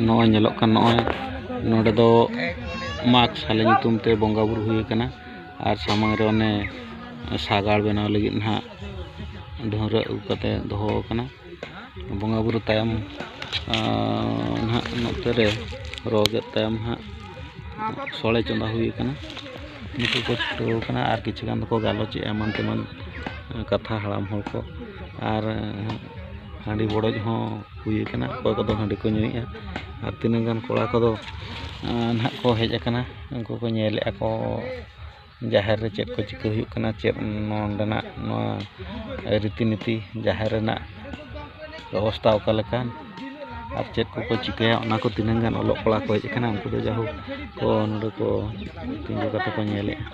ᱱᱚᱜᱼᱚᱭ ᱧᱮᱞᱚᱜ ᱠᱟᱱ ᱱᱚᱜᱼᱚᱭ ᱱᱚᱰᱮ ᱫᱚ ᱢᱟᱜᱽ ᱥᱟᱞᱮ ᱧᱩᱛᱩᱢ ᱛᱮ ᱵᱚᱸᱜᱟᱼᱵᱩᱨᱩ ᱦᱩᱭ ᱠᱟᱱᱟ ᱟᱨ ᱥᱟᱢᱟᱝ ᱨᱮ ᱚᱱᱮ ᱥᱟᱜᱟᱲ ᱵᱮᱱᱟᱣ ᱞᱟᱹᱜᱤᱫ ᱦᱟᱸᱜ ᱰᱷᱟᱹᱣᱨᱟᱹᱜ ᱟᱹᱜᱩ ᱠᱟᱛᱮ ᱫᱚᱦᱚ ᱠᱟᱱᱟ ᱵᱚᱸᱜᱟᱼᱵᱩᱨᱩ ᱛᱟᱭᱚᱢ ᱱᱟᱦᱟᱜ ᱱᱚᱛᱮ ᱨᱮ ᱨᱚ ᱜᱮᱫ ᱛᱟᱭᱚᱢ ᱦᱟᱸᱜ ᱥᱳᱲᱮ ᱪᱚᱸᱫᱟ ᱦᱩᱭ ᱠᱟᱱᱟ ᱱᱩᱠᱩ ᱠᱚ ᱪᱷᱩᱴᱟᱹᱣ ᱠᱟᱱᱟ ᱟᱨ ᱠᱤᱪᱷᱩ ᱜᱟᱱ ᱫᱚᱠᱚ ᱜᱟᱞᱚᱪᱮᱜᱼᱟ ᱮᱢᱟᱱ ᱛᱮᱢᱟᱱ ᱠᱟᱛᱷᱟ ᱦᱟᱲᱟᱢ ᱦᱚᱲ ᱠᱚ ᱟᱨ ᱦᱟᱺᱰᱤ ᱵᱚᱰᱚᱡ ᱦᱚᱸ ᱦᱩᱭ ᱠᱟᱱᱟ ᱚᱠᱚᱭ ᱠᱚᱫᱚ ᱦᱟᱺᱰᱤ ᱠᱚ ᱧᱩᱭᱮᱜᱼᱟ ᱟᱨ ᱛᱤᱱᱟᱹᱜ ᱜᱟᱱ ᱠᱚᱲᱟ ᱠᱚᱫᱚ ᱱᱟᱦᱟᱜ ᱠᱚ ᱦᱮᱡ ᱠᱟᱱᱟ ᱩᱱᱠᱩ ᱠᱚ ᱧᱮᱞᱮᱜᱼᱟ ᱠᱚ ᱡᱟᱦᱮᱨ ᱨᱮ ᱪᱮᱫ ᱠᱚ ᱪᱤᱠᱟᱹ ᱦᱩᱭᱩᱜ ᱠᱟᱱᱟ ᱪᱮᱫ ᱱᱚᱰᱮᱱᱟᱜ ᱱᱚᱣᱟ ᱨᱤᱛᱤ ᱱᱤᱛᱤ ᱡᱟᱦᱮᱨ ᱨᱮᱱᱟᱜ ᱵᱮᱵᱚᱥᱛᱷᱟ ᱚᱠᱟ ᱞᱮᱠᱟ ᱟᱨ ᱪᱮᱫ ᱠᱚᱠᱚ ᱪᱤᱠᱟᱹᱭᱟ ᱚᱱᱟ ᱠᱚ ᱛᱤᱱᱟᱹᱜ ᱜᱟᱱ ᱚᱞᱚᱜ ᱠᱚᱲᱟ ᱠᱚ ᱦᱮᱡ ᱠᱟᱱᱟ ᱩᱱᱠᱩ ᱫᱚ ᱡᱟᱭᱦᱳᱠ ᱠᱚ ᱱᱚᱰᱮ ᱠᱚ ᱛᱤᱸᱜᱩ ᱠᱟᱛᱮ ᱠᱚ ᱧᱮᱞᱮᱜᱼᱟ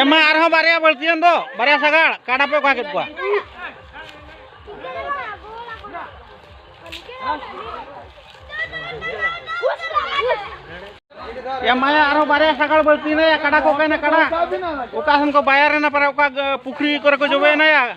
ᱮᱢᱟ ᱟᱨᱦᱚᱸ ᱵᱟᱨᱭᱟ ᱵᱟᱹᱲᱛᱤᱭᱮᱱ ᱫᱚ ᱵᱟᱨᱭᱟ ᱥᱟᱜᱟᱲ ᱠᱟᱰᱟ ᱯᱮ ᱚᱠᱟ ᱠᱮᱫ ᱠᱚᱣᱟ ᱮᱢᱟᱭᱟ ᱟᱨᱦᱚᱸ ᱵᱟᱨᱭᱟ ᱥᱟᱜᱟᱲ ᱵᱟᱹᱲᱛᱤᱭᱮᱱᱟ ᱠᱟᱰᱟ ᱠᱚ ᱚᱠᱟᱭᱮᱱᱟ ᱠᱟᱰᱟ ᱚᱠᱟ ᱥᱮᱱ ᱠᱚ ᱵᱟᱭᱟᱨᱮᱱᱟ ᱯᱟᱨᱟ ᱚᱠᱟ ᱯᱩᱠᱷᱨᱤ ᱠᱚᱨᱮ ᱠᱚ ᱡᱚᱵᱮᱭᱮᱱᱟ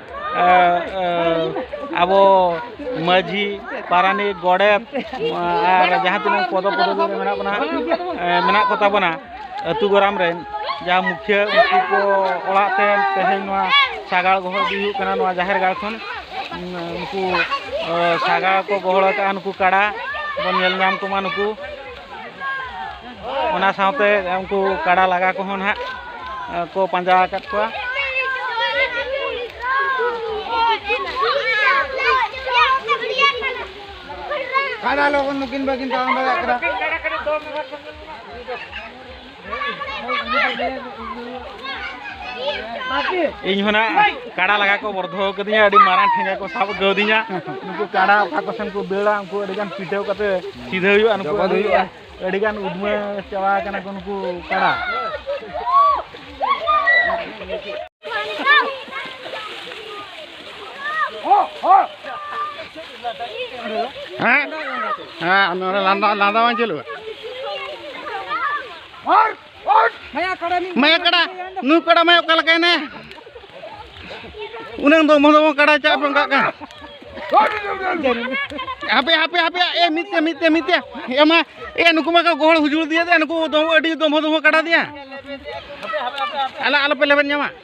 ᱟᱵᱚ ᱢᱟᱹᱡᱷᱤ ᱯᱟᱨᱟᱱᱤᱠ ᱜᱚᱰᱮᱛ ᱟᱨ ᱡᱟᱦᱟᱸ ᱛᱤᱱᱟᱹᱜ ᱯᱚᱫᱚ ᱯᱚᱫᱚᱵᱤ ᱨᱮ ᱢᱮᱱᱟᱜ ᱵᱚᱱᱟ ᱢᱮᱱᱟᱜ ᱠᱚᱛᱟ ᱵᱚᱱᱟ ᱟᱹᱛᱩ ᱜᱚᱨᱟᱢ ᱨᱮᱱ ᱡᱟᱦᱟᱸ ᱢᱩᱠᱷᱤᱭᱟᱹ ᱩᱱᱠᱩ ᱠᱚ ᱚᱲᱟᱜ ᱛᱮ ᱛᱮᱦᱮᱧ ᱱᱚᱣᱟ ᱥᱟᱜᱟᱲ ᱜᱚᱦᱚᱲ ᱤᱫᱤ ᱦᱩᱭᱩᱜ ᱠᱟᱱᱟ ᱱᱚᱣᱟ ᱡᱟᱦᱮᱨ ᱜᱟᱲ ᱠᱷᱚᱱ ᱩᱱᱠᱩ ᱥᱟᱜᱟᱲ ᱠᱚ ᱜᱚᱦᱚᱲ ᱟᱠᱟᱫᱼᱟ ᱱᱩᱠᱩ ᱠᱟᱰᱟ ᱵᱚᱱ ᱧᱮᱞ ᱧᱟᱢ ᱠᱚᱢᱟ ᱱᱩᱠᱩ ᱚᱱᱟ ᱥᱟᱶᱛᱮ ᱩᱱᱠᱩ ᱠᱟᱰᱟ ᱞᱟᱜᱟ ᱠᱚᱦᱚᱸ ᱱᱟᱦᱟᱜ ᱠᱚ ᱯᱟᱸᱡᱟ ᱟᱠᱟᱫ ᱠᱚᱣᱟ ᱠᱟᱰᱟ ᱞᱚᱜᱚᱱ ᱱᱩᱠᱤᱱ ᱵᱟᱹᱠᱤᱱ ᱛᱟᱲᱟᱢ ᱫᱟᱲᱮᱭᱟᱜ ᱠᱟᱱᱟ ᱤᱧ ᱦᱚᱸ ᱱᱟᱜ ᱠᱟᱰᱟ ᱞᱟᱜᱟ ᱠᱚ ᱵᱚᱨᱫᱷᱚ ᱠᱟᱹᱫᱤᱧᱟ ᱟᱹᱰᱤ ᱢᱟᱨᱟᱝ ᱴᱷᱮᱸᱜᱟ ᱠᱚ ᱥᱟᱵ ᱠᱟᱹᱫᱤᱧᱟ ᱱᱩᱠᱩ ᱠᱟᱰᱟ ᱚᱠᱟ ᱠᱚ ᱥᱮᱱ ᱠᱚ ᱫᱟᱹᱲᱟ ᱩᱱᱠᱩ ᱟᱹᱰᱤ ᱜᱟᱱ ᱯᱤᱴᱷᱟᱹᱣ ᱠᱟᱛᱮ ᱥᱤᱫᱷᱟᱹ ᱦᱩᱭᱩᱜᱼᱟ ᱱᱩᱠᱩ ᱦᱩᱭᱩᱜᱼᱟ ᱟᱹᱰᱤ ᱜᱟᱱ ᱩᱫᱽᱢᱟᱹ ᱪᱟᱵᱟ ᱠᱟᱱᱟ ᱠᱚ ᱱᱩᱠᱩ ᱠᱟᱰᱟ Oh, oh! ᱦᱮᱸ ᱦᱮᱸ ᱱᱚᱰᱮ ᱞᱟᱸᱫᱟ ᱞᱟᱸᱫᱟ ᱵᱟᱝ ᱪᱟᱹᱞᱩᱜᱼᱟ ᱢᱟᱭᱟ ᱠᱟᱰᱟ ᱱᱩᱭ ᱠᱟᱰᱟ ᱢᱟᱭᱟ ᱚᱠᱟ ᱞᱮᱠᱟᱭᱮᱱᱟ ᱩᱱᱟᱹᱝ ᱫᱚ ᱢᱚᱦᱚ ᱵᱚᱱ ᱠᱟᱰᱟ ᱪᱟᱜ ᱵᱚᱱ ᱠᱟᱜ ᱠᱟᱱᱟ ᱦᱟᱯᱮ ᱦᱟᱯᱮ ᱦᱟᱯᱮ ᱮ ᱢᱤᱫᱛᱮ ᱢᱤᱫᱛᱮ ᱢᱤᱫᱛᱮ ᱮ ᱢᱟ ᱮ ᱱᱩᱠᱩ ᱢᱟ ᱜᱚᱦᱚᱲ ᱦᱩᱡᱩᱲ ᱫᱤᱭᱟ ᱱᱩᱠᱩ ᱫᱚ ᱟᱹᱰᱤ ᱫᱚᱢᱦᱚ ᱫᱚᱢᱦᱚ ᱠᱟᱰᱟ ᱫᱤᱭᱟ ᱟᱞᱮ ᱟᱞᱚᱯᱮ ᱞᱮᱵᱮᱫ ᱧᱟᱢᱟ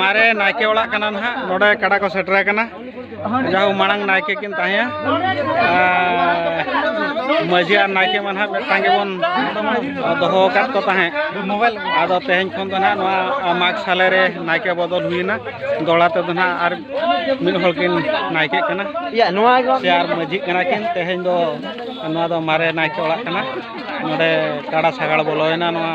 ᱢᱟᱨᱮ ᱱᱟᱭᱠᱮ ᱚᱲᱟᱜ ᱠᱟᱱᱟ ᱱᱟᱦᱟᱜ ᱱᱚᱰᱮ ᱠᱟᱰᱟ ᱠᱚ ᱥᱮᱴᱮᱨ ᱟᱠᱟᱱᱟ ᱡᱟᱦᱳ ᱢᱟᱲᱟᱝ ᱱᱟᱭᱠᱮ ᱠᱤᱱ ᱛᱟᱦᱮᱸᱭᱟ ᱢᱟᱹᱡᱷᱤ ᱟᱨ ᱱᱟᱭᱠᱮ ᱢᱟ ᱱᱟᱦᱟᱜ ᱢᱤᱫᱴᱟᱝ ᱜᱮᱵᱚᱱ ᱫᱚᱦᱚ ᱟᱠᱟᱫ ᱠᱚ ᱛᱟᱦᱮᱸᱫ ᱟᱫᱚ ᱛᱮᱦᱮᱧ ᱠᱷᱚᱱ ᱫᱚ ᱱᱟᱦᱟᱜ ᱱᱚᱣᱟ ᱢᱟᱜᱽ ᱥᱟᱞᱮ ᱨᱮ ᱱᱟᱭᱠᱮ ᱵᱚᱫᱚᱞ ᱦᱩᱭᱮᱱᱟ ᱫᱚᱲᱟ ᱛᱮᱫᱚ ᱱᱟᱦᱟᱜ ᱟᱨ ᱢᱤᱫ ᱦᱚᱲ ᱠᱤᱱ ᱱᱟᱭᱠᱮᱜ ᱠᱟᱱᱟ ᱥᱮ ᱟᱨ ᱢᱟᱹᱡᱷᱤᱜ ᱠᱟᱱᱟ ᱠᱤᱱ ᱛᱮᱦᱮᱧ ᱫᱚ ᱱᱚᱣᱟ ᱫᱚ ᱢᱟᱨᱮ ᱱᱟᱭᱠᱮ ᱚᱲᱟᱜ ᱠᱟᱱᱟ ᱱᱚᱰᱮ ᱠᱟᱰᱟ ᱥᱟᱜᱟᱲ ᱵᱚᱞᱚᱭᱮᱱᱟ ᱱᱚᱣᱟ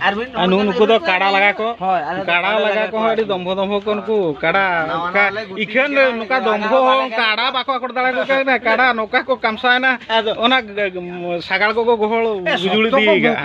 ᱟᱨ ᱱᱩᱠᱩ ᱱᱩᱠᱩ ᱫᱚ ᱠᱟᱲᱟ ᱞᱟᱜᱟ ᱠᱚ ᱠᱟᱲᱟ ᱞᱟᱜᱟ ᱠᱚ ᱟᱹᱰᱤ ᱫᱚᱢᱵᱷᱚ ᱫᱚᱢᱵᱷᱚ ᱠᱚ ᱱᱩᱠᱩ ᱠᱟᱲᱟ ᱚᱱᱠᱟ ᱤᱠᱷᱟᱹᱱ ᱱᱚᱝᱠᱟ ᱫᱚᱢᱵᱷᱚ ᱦᱚᱸ ᱠᱟᱲᱟ ᱵᱟᱠᱚ ᱟᱠᱚᱲ ᱫᱟᱲᱮ ᱠᱚ ᱠᱟᱱᱟ ᱠᱟᱲᱟ ᱱᱚᱝᱠᱟ ᱠᱚ ᱠᱟᱢᱥᱟᱭᱮᱱᱟ ᱚᱱᱟ ᱥᱟᱜᱟᱲ ᱠᱚᱠᱚ ᱜᱚᱦᱚᱲ ᱵᱩᱡᱩᱲ ᱤᱫᱤᱭᱮᱫᱟ